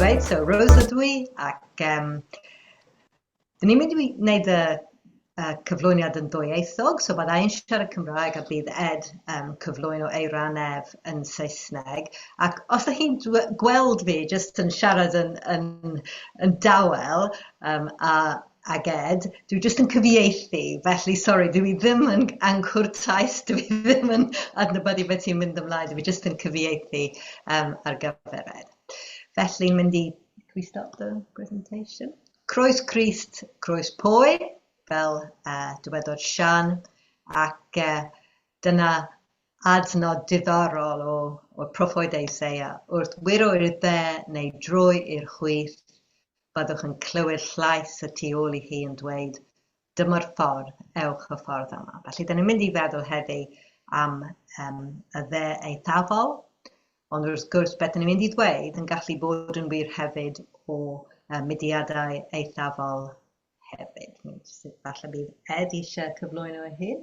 Reit, so Rose ydw i ac um, dyn ni'n mynd i wneud y uh, cyflwyniad yn ddwyieithog, so byddai yn siarad Cymraeg a bydd Ed um, cyflwyno ei ran ef yn Saesneg. Ac os ydych chi'n gweld fi jyst yn siarad yn, yn, yn dawel um, a ag Ed, dwi jyst yn cyfieithu, felly sori, dwi ddim yn angwr taes, dwi ddim yn adnabyddu beth sy'n mynd ymlaen, dwi jyst yn cyfieithu um, ar gyfer Ed. Felly, mynd i, can we stop the presentation? Croes Crist, croes pwy, fel uh, dywedodd Sian, ac uh, dyna adnod diddorol o, o'r proffwyd Eiseia. Wrth wyro i'r dde neu drwy i'r chwith, byddwch yn clywed llais y tu ôl i chi yn dweud, Dyma'r ffordd, ewch y ffordd yma. Felly, da ni'n mynd i feddwl heddi am um, y dde eithafol, ond wrth gwrs beth da ni'n mynd i ddweud yn gallu bod yn wir hefyd o uh, mudiadau eithafol hefyd. Falle bydd Ed eisiau cyflwyno ei hun.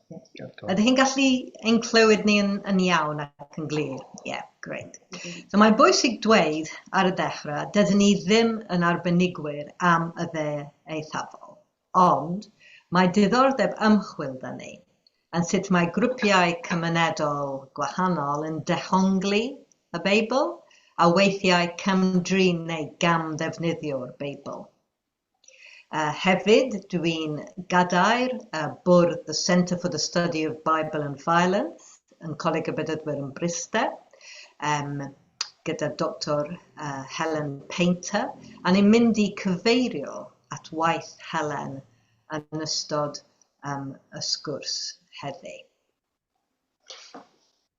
Ydych chi'n gallu ein clywed ni yn, yn iawn ac yn glir? Ie, yeah, great. So mae'n bwysig dweud ar y dechrau, dydyn ni ddim yn arbenigwyr am y dde eithafol, ond mae diddordeb ymchwil da ni yn sut mae grwpiau cymunedol gwahanol yn dehongli y Beibl a weithiau cam-drin neu gam-ddefnyddio'r Beibl. Hefyd, dw i'n gadair bwrdd y Centre for the Study of Bible and Violence yn Coleg y Bedyddwyr yn Bryste, um, gyda Doctor uh, Helen Painter, a ni'n mynd i cyfeirio at waith Helen yn ystod um, y sgwrs heddi.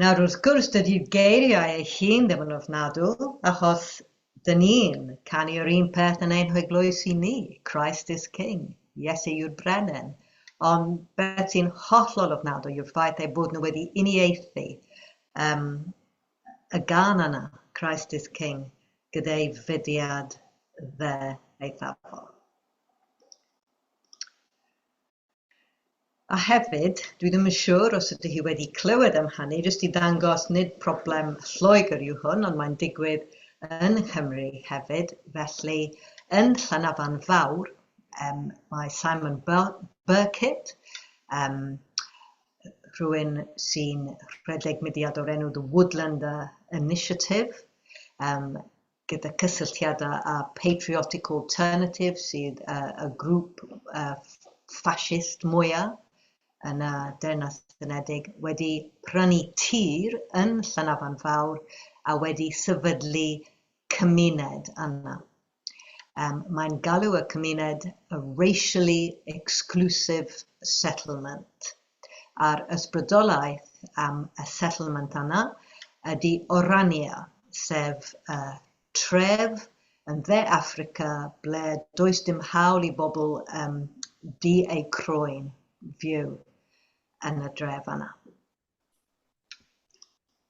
Nawr, wrth gwrs, dydy'r geiriau ei hun ddim yn ofnadw, achos dyn ni'n canu yr un peth yn ein heglwys i ni, Christ is King, Iesu yw'r Brenin, ond beth sy'n hollol ofnadwy yw'r ffaith eu bod nhw wedi uniaethu um, y gan yna, Christ is King, gyda'i fudiad dde eithafol. A hefyd, dwi ddim yn siŵr os ydy hi wedi clywed am hynny, jyst i ddangos nid problem Lloegr yw hwn, ond mae'n digwydd yn Nghymru hefyd, felly yn Llanafan Fawr um, mae Simon Burkitt, um, rhywun sy'n rhedeg mudiad o'r enw The Woodlander Initiative, um, gyda cysylltiadau â Patriotic Alternative sydd y grŵp ffasist mwyaf yn y Deyrnas Unedig, wedi prynu tir yn Llanafan Fawr a wedi sefydlu cymuned yna. Mae'n galw y cymuned 'a racially exclusive settlement'. a'r ysbrydolaeth am y settlement yna ydy Orania, sef y tref yn Dde Affrica ble does dim hawl i bobl yym du eu croen fyw yn y dref yna.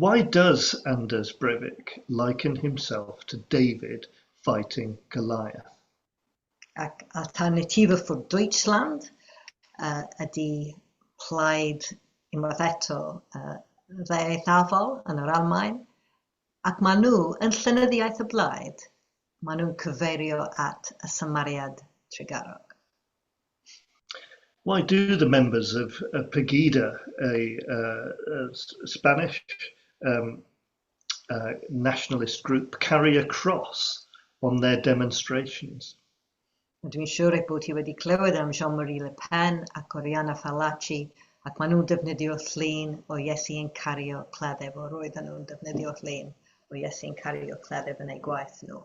Why does Anders Breivik liken himself to David fighting Goliath? Ac Alternative für Deutschland uh, ydy plaid unwaith eto uh, dde eithafol yn yr Almaen, ac maen nhw yn llynyddiaeth y blaid, maen nhw'n cyfeirio at y symariad trugarog. Why do the members of Pegida, a Spanish nationalist group, carry a cross on their demonstrations? Rydw i'n siŵr eich bod chi wedi clywed am Jean-Marie Le Pen ac Oriana Fallaci, ac maen nhw'n defnyddio llun o Iesu yn cario cleddyf, o roedden nhw'n defnyddio llun o Iesu yn cario cleddyf yn eu gwaith nhw.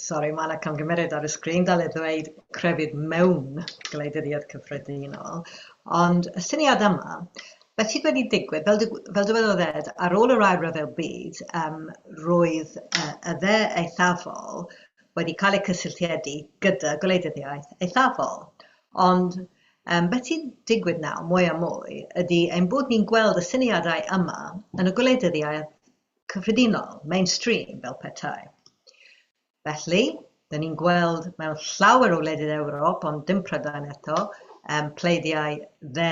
Sori, mae yna camgymeriad ar y sgrin dal i ddweud crefydd mewn gwleidyddiaeth cyffredinol, ond y syniad yma, beth sydd wedi digwydd, fel, fel dywedodd Ed, ar ôl yr ail rhyfel byd, um, roedd uh, y dde eithafol wedi cael eu cysylltiedig gyda gwleidyddiaeth eithafol. Ond um, beth sy'n digwydd nawr, mwy a mwy, ydy ein bod ni'n gweld y syniadau yma yn y gwleidyddiaeth cyffredinol, mainstream, fel petai. Felly, dyn ni'n gweld mewn llawer o wledydd Ewrop, ond dim Prydain eto, um, pleidiau dde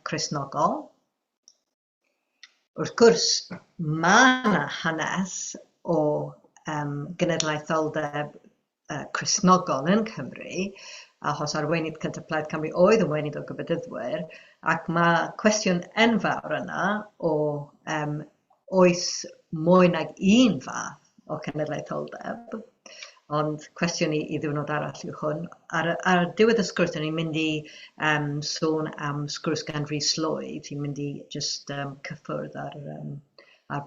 Cresnogol. Wrth gwrs, mae yna hanes o um, genedlaetholdeb Cristnogol yn Cymru, achos arweinydd cyntaf Plaid Cymru oedd yn wenydd o Gyfadyddwyr, ac mae cwestiwn enfawr yna o um, oes mwy nag un fath o cenedlaetholdeb, ond cwestiwn i, i ddiwrnod arall yw hwn. Ar, ar diwedd y sgwrs, ni'n mynd i um, sôn am sgwrs gan Rhys Lloyd, ni'n mynd i just um, cyffwrdd ar, um, ar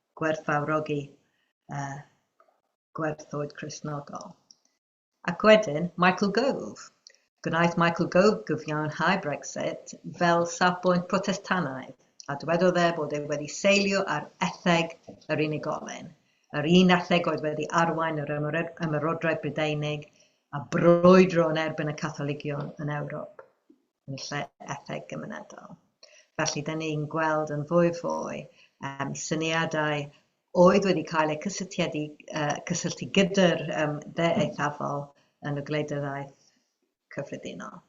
gwerthfawrogi y gwerthoedd Cristnogol. Ac wedyn, Michael Gove. Gwnaeth Michael Gove gyfiawnhau Brexit fel safbwynt Protestannaidd, a dywedodd e bod e wedi seilio ar etheg yr unigolyn, yr un etheg oedd wedi arwain yr Ymerodraeth Brydeinig a brwydro yn erbyn y Catholigion yn Ewrop. yn lle etheg gymunedol. Felly, da ni'n gweld yn fwy fwy um, syniadau oedd wedi cael eu cysylltiedig, uh, cysylltu gyda'r um, dde eithafol yn y gwleidyddaeth cyffredinol.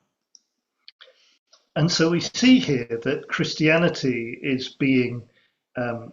And so we see here that Christianity is being um,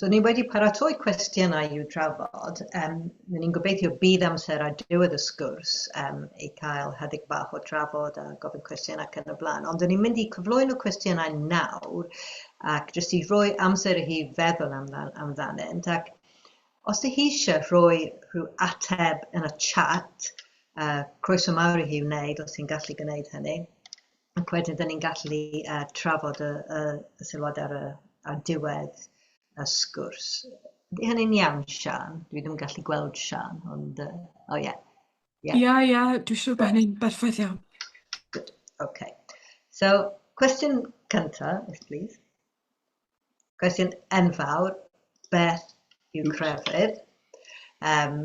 So ni wedi paratoi cwestiynau i'w drafod, um, ry'n ni'n gobeithio bydd amser ar diwedd y sgwrs um, i cael hedig bach o drafod a gofyn cwestiynau ac yn y blaen, ond ry'n ni'n mynd i cyflwyno cwestiynau nawr ac jyst i roi amser i hi feddwl amdan, amdanynt ac os ydych chi eisiau rhoi rhyw ateb yn y chat, uh, croeso mawr i hi wneud os ti'n gallu gwneud hynny. ac wedyn rydyn ni'n gallu uh, trafod y, y, y sylwad ar, y, ar diwedd y sgwrs. Ydy hynny'n iawn, Sian? Dwi ddim yn gallu gweld Sian, ond... Uh, oh, yeah. Ie, yeah. ie, yeah, dwi'n siŵr bod hynny'n berffaith iawn. Good, okay. So, cwestiwn cyntaf, if please. Cwestiwn enfawr, beth yw crefydd? Um,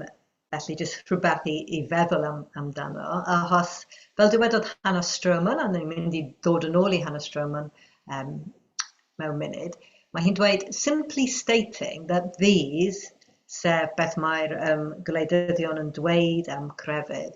felly, jyst rhywbeth i, i feddwl am, amdano. Achos, fel dywedodd Hannah Stroman, a ni'n mynd i ddod yn ôl i Hannah Stroman um, mewn munud, mae hi'n dweud, simply stating that these, sef beth mae'r um, gwleidyddion yn dweud am crefydd,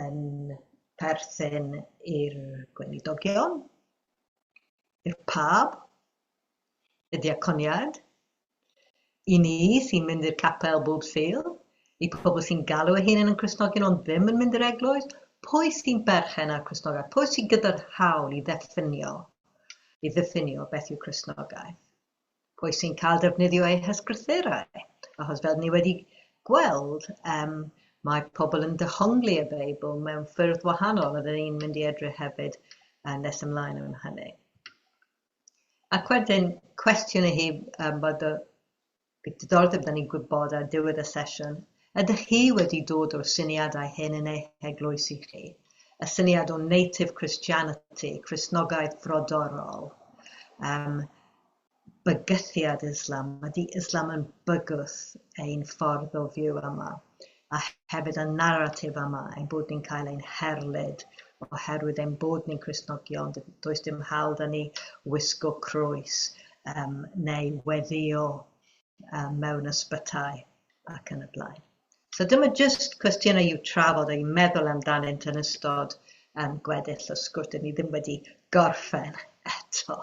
yn perthyn i'r gweinidogion, i'r pab, y diaconiad, i ni sy'n mynd i'r capel bob Sul, i pobl sy'n galw eu hunain yn Cristnogion ond ddim yn mynd i'r eglwys, pwy sy'n berchen ar Cristnogaeth, pwy sydd gyda'r hawl i ddeffinio, i ddiffinio beth yw Cristnogaeth. pwy sy'n cael defnyddio eu hysgrythurau, achos fel ni wedi gweld, um, mae pobl yn dehongli y Beibl mewn ffyrdd wahanol, a dyn ni'n mynd i edrych hefyd uh, nes ymlaen am hynny. Ac wedyn, cwestiwn i hi, um, bod y diddordeb da ni'n gwybod ar diwedd y sesiwn, Ydych chi wedi dod o'r syniadau hyn yn eich eglwys i chi? Y syniad o native Christianity, Cristnogaeth frodorol, um, bygythiad Islam, ydy Islam yn bygwth ein ffordd o fyw yma, a hefyd y naratif yma ein bod ni'n cael ein herlid oherwydd ein bod ni'n Cristnogion, does dim hawl da ni wisgo croes um, neu weddio um, mewn ysbytai ac yn y blaen. So dyma jyst cwestiynau i'w trafod a'i meddwl amdanynt yn ystod um, gweddill o sgwrt. Dyn ni ddim wedi gorffen eto.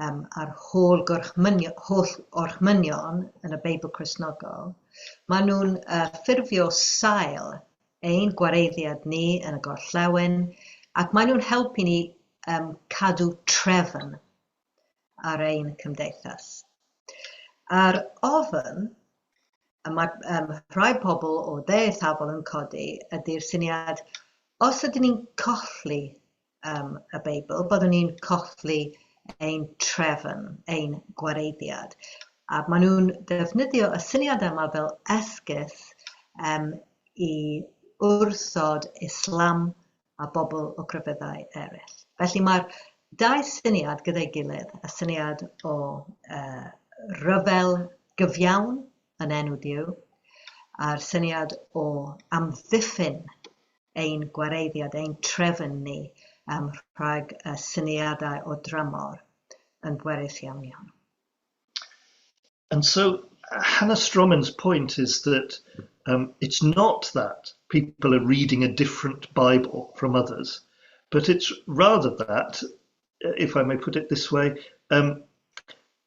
yym a'r holl gorchmynion, holl orchmynion yn y Beibl Cristnogol, maen nhw'n uh, ffurfio sail ein gwareiddiad ni yn y gorllewin, ac maen nhw'n helpu ni um, cadw trefn ar ein cymdeithas. A'r ofn y mae um, rhai pobl o dde eithafol yn codi ydy'r syniad os ydyn ni'n colli um, y Beibl, byddwn ni'n colli ein trefn, ein gwareiddiad. A maen nhw'n defnyddio y syniad yma fel esgus um, i wrthod Islam a bobl o grefyddau eraill. Felly mae'r dau syniad gyda'i gilydd, y syniad o uh, ryfel gyfiawn yn enw Duw, a'r syniad o amddiffyn ein gwareiddiad, ein trefn ni um, rhag y syniadau o dramor yn bwerus iawn iawn. And so Hannah Stromin's point is that um, it's not that people are reading a different Bible from others, but it's rather that, uh, if I may put it this way, um,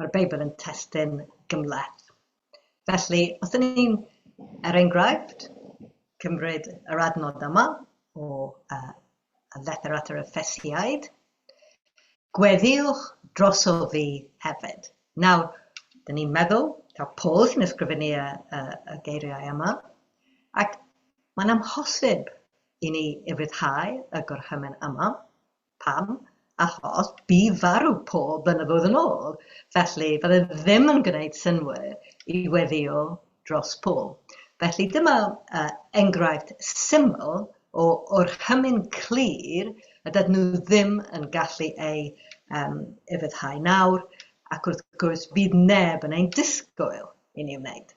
Mae'r Beibl yn testun gymhleth. Felly, os ydyn ni'n, er enghraifft, cymryd yr adnod yma o uh, y lethr at yr Effesiaid, gweddiwch droso fi hefyd. Nawr, dyn ni'n meddwl, ta Paul sy'n ysgrifennu y, y, y geiriau yma, ac mae'n amhosib i ni i ryddhau y gorchymyn yma, Pam? Achos bydd farw pob blynyddoedd yn ôl, felly fydd e ddim yn gwneud synnwyr i weddïo dros pob. Felly dyma uh, enghraifft syml o orchymyn clir y dydyn nhw ddim yn gallu ei um, efyddhau nawr, ac wrth gwrs bydd neb yn ein disgwyl i ni wneud.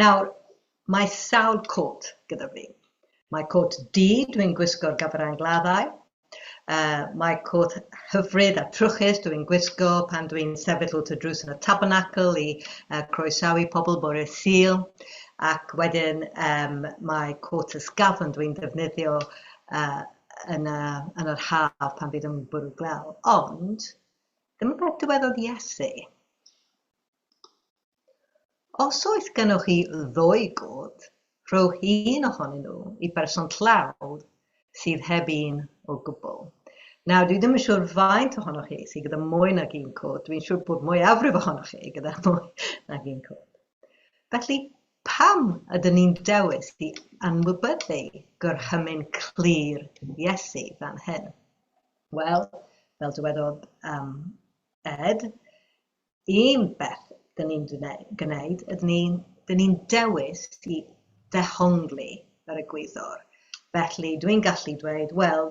Nawr, mae sawl côt gyda fi. Mae côt du, dwi'n gwisgo'r gafarau gladdau. Uh, mae côt hyfryd a trwchus dwi'n gwisgo pan dwi'n sefyll wrth y drws yn y tabernacl i uh, croesawu pobl bore syl. Ac wedyn um, mae côt ysgafn dwi'n defnyddio uh, yn, y, yn yr haf pan fydd yn bwrw glaw. Ond Dyma beth dywedodd Iesu, Os oes gennych chi ddwy gôt, rhowch un ohonyn nhw i berson tlawd sydd heb un o gwbl. Nawr, dwi ddim yn siŵr faint ohonoch chi sydd gyda mwy nag un côt, dwi'n siŵr bod mwyafrif ohonoch chi gyda mwy nag un côt. Felly, pam ydyn ni'n dewis i anwybyddu gorchymyn clir Iesu fan hyn? Wel, fel dywedodd um, Ed, un beth dyn ni'n gwneud, ydyn ni'n ni dewis i ddehongli yr egwyddor. Felly, dwi'n gallu dweud, wel,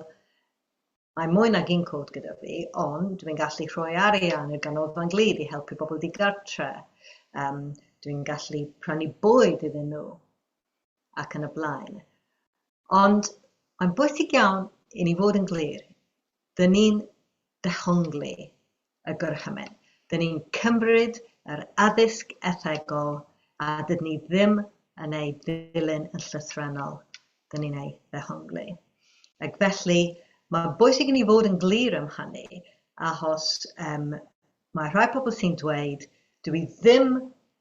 mae mwy nag un cod gyda fi, ond dwi'n gallu rhoi arian i'r ganolfan glid i helpu bobl digartre. Um, dwi'n gallu prynu bwyd iddyn nhw. ac yn y blaen. Ond mae'n bwysig iawn i ni fod yn glir. Dyn ni'n dehongli y gorchymyn. Dyn ni'n cymryd yr addysg ethegol a dydyn ni ddim yn ei ddilyn yn llythrennol. Dyn ni'n ei ddehongli. Ac felly, mae'n bwysig i ni fod yn glir am hynny, achos um, mae rhai pobl sy'n dweud, dwi ddim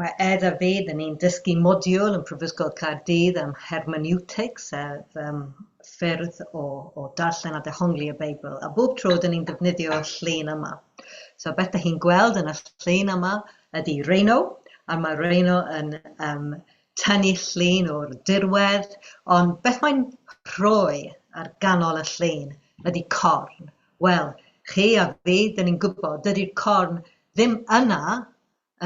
Mae Ed a fi, dan ni'n dysgu modiwl yn Prifysgol Caerdydd am hermeneutics, sef yym ffyrdd o o darllen a dehongli y Beibl, a bob tro dan ni'n defnyddio y llun yma. So beth dach chi'n gweld yn y llun yma ydi Rhino, a mae Rhino yn yym tynnu llun o'r dirwedd, ond beth mae'n rhoi ar ganol y llun ydi corn. Wel, chi a fi, dyn ni'n gwybod, dydy'r corn ddim yna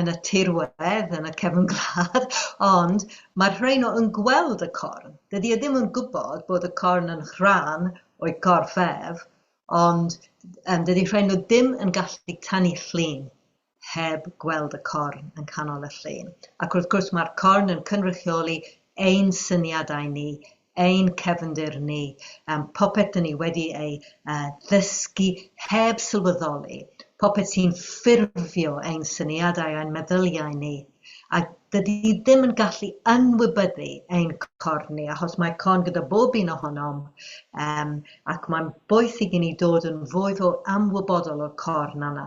yn y tirwedd, yn y cefn gwlad, ond mae'r rheino yn gweld y corn. Dydy e ddim yn gwybod bod y corn yn rhan o'i gorff ef, ond um, dydy rheino ddim yn gallu tanu llun. heb gweld y corn yn canol y llun. Ac wrth gwrs mae'r corn yn cynrychioli ein syniadau ni, ein cefndir ni, um, popeth dyn ni wedi ei uh, ddysgu heb sylweddoli, popeth sy'n ffurfio ein syniadau a'n meddyliau ni. A dydy ddim yn gallu ynwybyddu ein corn ni, achos mae corn gyda bob un ohonom, um, ac mae'n boeth i ni dod yn fwy fwy amwybodol o'r corn yna.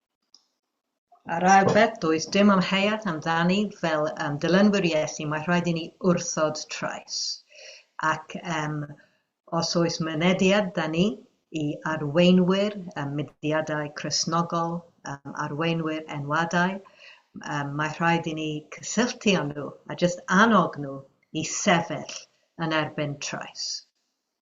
A'r ail beth, does dim amheuaeth amdani, fel um, dilynwyr Iesu, mae rhaid i ni wrthod trais. Ac um, os oes mynediad da ni i arweinwyr um, mudiadau Cresnogol, um, arweinwyr enwadau, um, mae rhaid i ni cysylltu â nhw a jyst annog nhw i sefyll yn erbyn trais.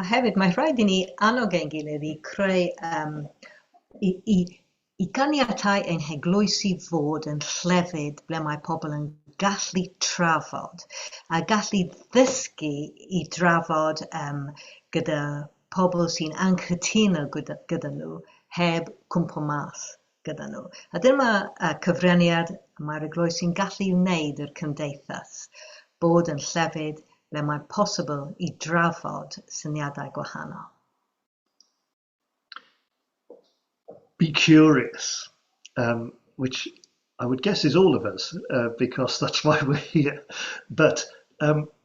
A hefyd, mae rhaid i ni annog ein gilydd i creu, um, i, i, i ganiatau ein heglwysi fod yn llefydd ble mae pobl yn gallu trafod a gallu ddysgu i drafod um, gyda pobl sy'n anghytuno gyda, gyda nhw heb cwmpo mas gyda nhw. A dyma uh, cyfraniad mae'r eglwys sy'n gallu wneud i'r cymdeithas bod yn llefydd ble mae'n posibl i drafod syniadau gwahanol. Be curious, um, which I would guess is all of us, uh, because that's why we're here. But um,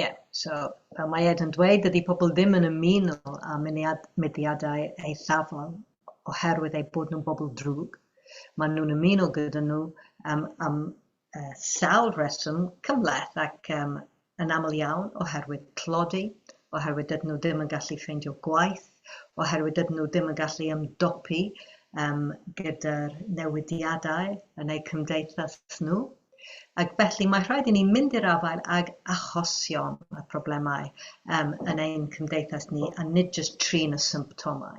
Ie, so fel mae Ed yn dweud, dydy pobl ddim yn ymuno â munead- mudiadau eithafol oherwydd eu bod nhw'n bobl drwg. Maen nhw'n ymuno gyda nhw um, am uh, sawl rheswm cymhleth ac um, yn aml iawn oherwydd tlodi, oherwydd dydyn nhw ddim yn gallu ffeindio gwaith, oherwydd dydyn nhw ddim yn gallu ymdopi um, gyda'r newidiadau yn eu cymdeithas nhw. Ac felly mae rhaid i ni mynd i'r afael ag achosion a problemau um, yn ein cymdeithas ni a nid jyst trin y symptomau.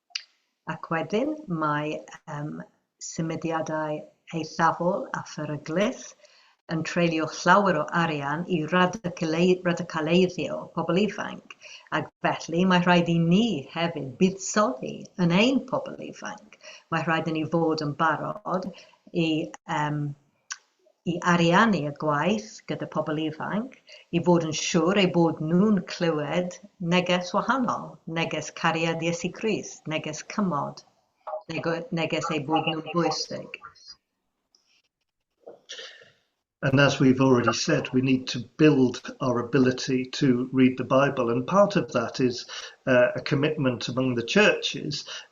Ac wedyn mae yym symudiadau eithafol a pheryglus yn treulio llawer o arian i radicalei- radicaleiddio pobl ifanc, ac felly mae rhaid i ni hefyd buddsoddi yn ein pobl ifanc. Mae rhaid i ni fod yn barod i yym i ariannu y gwaith gyda pobl ifanc, i fod yn siŵr eu bod nhw'n clywed neges wahanol, neges cariad Iesu Crist, neges cymod, neges eu bod nhw'n bwysig. And as we've already said, we need to build our ability to read the Bible. And part of that is uh, a commitment among the churches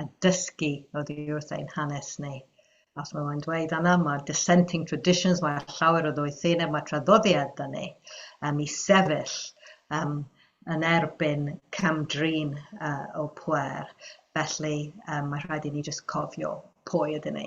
a dysgu oddi wrth ein hanes ni. Os mae mae'n dweud yna, mae dissenting traditions, mae llawer o ddoethineb, mae traddodiad da ni um, i sefyll um, yn erbyn camdrin uh, o pwer. Felly, um, mae rhaid i ni jyst cofio pwy ydyn ni.